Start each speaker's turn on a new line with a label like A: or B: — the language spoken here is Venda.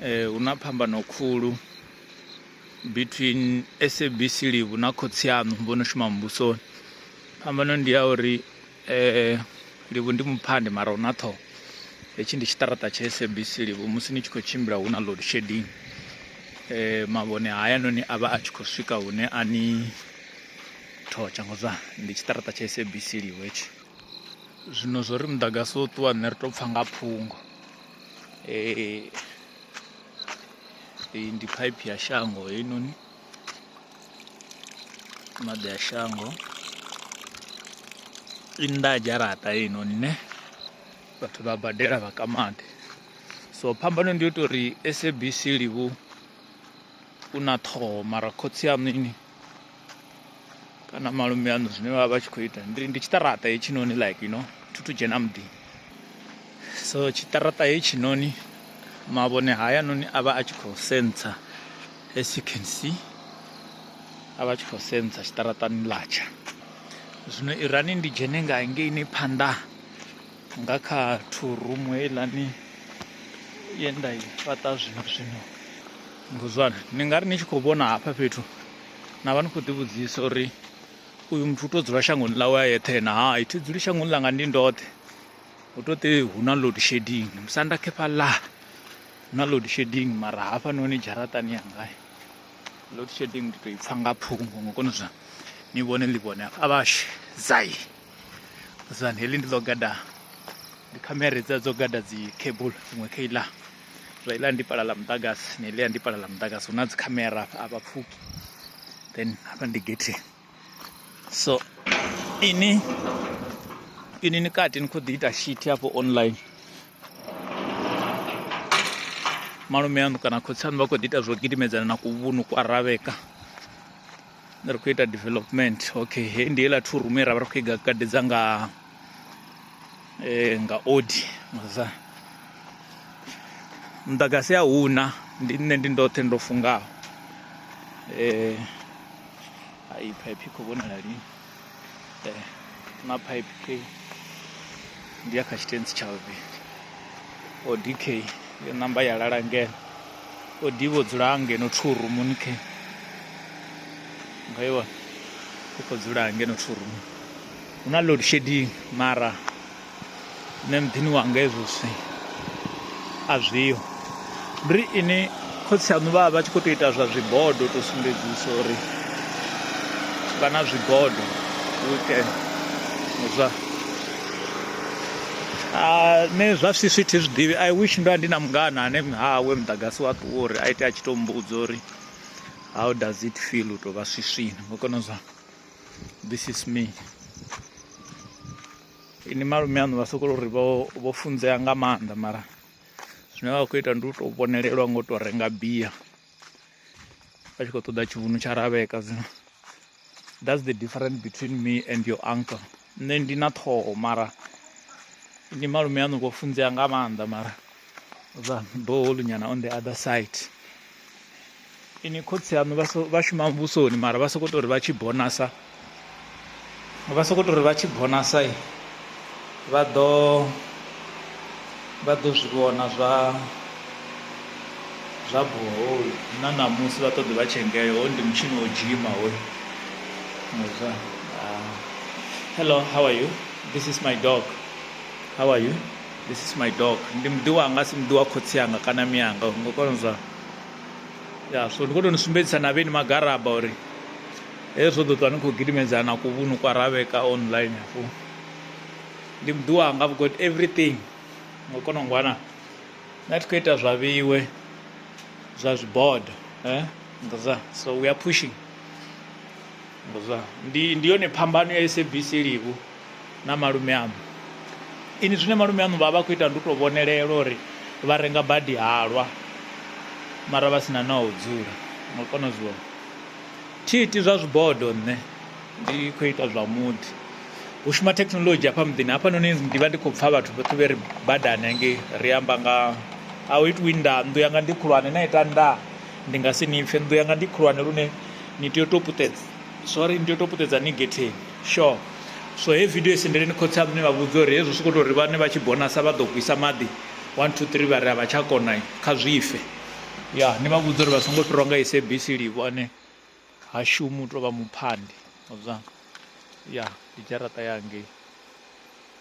A: Ee, hu na phambano khulu between SABC Livhu na khotsi aṋu vho no shuma muvhusoni. Phambano ndi ya uri Livhu ndi muphande mara hu na ṱhoho, hetshi ndi tshiṱaraṱa tsha SABC Livhu musi ni tshi khou tshimbila hu na load shedding mavhone hayanoni a vha a tshi khou swika hune a ni thotsha ngo zwa ndi tshiṱaraṱa tsha SABC Livhu hetshi. Zwino zwo ri muḓagasi wo ṱuwa nṋe ri tou pfha nga phungo. Ee, iyi ndi phaiphi ya shango heinoni maḓi a shango i nnḓa ha dzharaṱa heinoni ne vhathu vha badela vha ka maḓi so phambano ndi yo tou uri sabc livhu u na ṱhoho mara khotsi aṋu ini kana malume aṋu zwine vha vha tshi khou ita ndi ndi tshiṱaraṱa hetshinoni like you know thu thu dzhena muḓi so tshiṱaraṱa hetshinoni mavhone haya noni a vha a tshi khou sentsa as you can see a vha tshi khou sentsa tshiṱaraṱani latsha zwino irani ndi dzhene nga ngeini phanḓa nga kha two room heiḽani ye nda i fhaṱa zwino zwino nguzwana ni nga ri ni tshi khou vhona hafha fhethu na vha ni khou ḓivhudzisa uri uyu muthu u tou dzula shangoni ḽawe a yeṱhe na ha ithi dzuli shangoni ḽanga ndi ndoṱhe hu to ṱe hu na load shedding musanda khefha ḽa na load shedding mara hafhanoni dzharaṱani yanga load shedding ndi tou i pfha nga phungo ngo kona zwa ni vhone ḽi vhone a vhashe zai zani heḽi ndi ḽo gada ndi khamera dza dzo gada dzi cable iṅwe kha iḽa zwa iḽa ndi pala ḽa muḓagasi na iḽa ndi pala ḽa muḓagasi hu na dzi khamera a vha pfuki then hafha ndi getheni so ini ini ni kati ni khou ḓi ita shithi hafho online malume aṋu kana khotsi aṋu vha khou ḓi ita zwo gidimedzana na kuvhunu kwa ravheka ri khou ita development okay he ndi heiḽa thu rumu ye ra vha ri khou i gadedza nga eh, nga odi maza muḓagasi a huna ndi nṋe ndi ndoṱhe ndo fungaho um eh, ai phaiphi khou vhonala lini maphaipi kei ndi ya kha tshitentsi tsha vhuvhili o dk yo namba ya lala ngeno o d vho dzula ngeno two rumuni ke nga iwa u khou dzula ngeno two rumuni hu na load shedding mara nṋe muḓini wanga hezwo zwithu a zwiho ndi ri ini khotsi aṋu vha vha vha tshi khou tou ita zwa zwibodo u tou sumbedzisa uri vha na zwibodo weekend zwa nṋe zwa swiswi thi zwi ḓivhi i wish ndo vha ndi na mungana ane hawe muḓagasi wa ṱuwa uri a ite a tshi tou mbudza uri how does it feel u tou vha swiswini ngo kona zwa this is me ini malume aṋu vha sokou ri vho vho funzea nga maanḓa mara zwine vha khou ita ndi u tou vhonelelwa ngo tou renga bia vha tshi khou ṱoḓa tshivhunu tsha ravheka zwino that's the difference between me and your uncle nṋe ndi na ṱhoho mara ndi malume aṋu vho funzea nga maanḓa mara zwa boholu nyana on the other side Inwi khotsi aṋu vha so vha shuma muvhusoni mara vha sokou tou ri vha tshi bonasa vha sokou tou ri vha tshi bonasa vha ḓo vha ḓo zwi vhona zwa zwa boholi na ṋamusi vha ṱoḓi vha tshengele hoyu ndi mutshini wo dzhima hoyu muzwa ah, hello how are you this is my dog how are you This is my dog ndi muḓi wanga asi muḓi wa khotsi anga kana mianga ngo kona zwa ya so ndi kho to ni sumbedzisa na vheni magaraba uri hezwo ḓo ṱwa ni khou gidimedzana ku vhunu kwa ravheka online hafhu ndi muḓi wanga I've got everything ngo kona ngwana na thi khou ita zwa vhiwe zwa zwibodo eh ngaza so we are pushing Zwa ndi ndi yone phambano ya SABC Livhu na malume aṋu. Ini zwine malume aṋu vha vha khou ita ndi u tou vhonelela uri vha renga badi halwa mara vha si na na u dzula ngo kona zwi vhona. Thi iti zwa zwibodo nṋe ndi khou ita zwa muḓi. Hu shuma thekinoḽodzhi hafha muḓini hafhanoni ndi vha ndi khou pfha vhathu vhoṱhe vhe ri badani hangei ri amba nga a hu itiwi nnḓa nnḓu yanga ndi khulwane na ita nnḓa ndi nga si ni pfhe nnḓu yanga ndi khulwane lune ni tea u tou puṱedza sorry ni tea u tou puṱedza ni getheni sure so he video isendeleni khotsi a mune vha vhudza uri hezwi sokou tou ri vhane vha tshi bonasa vha ḓo gwisa maḓi one two three vha ri a vha tsha kona kha zwife ya ni vha vhudza uri vha songo fhirwa nga sabc livho ane ha shumi u tou vha muphandi ya ndi dzharaṱa yangei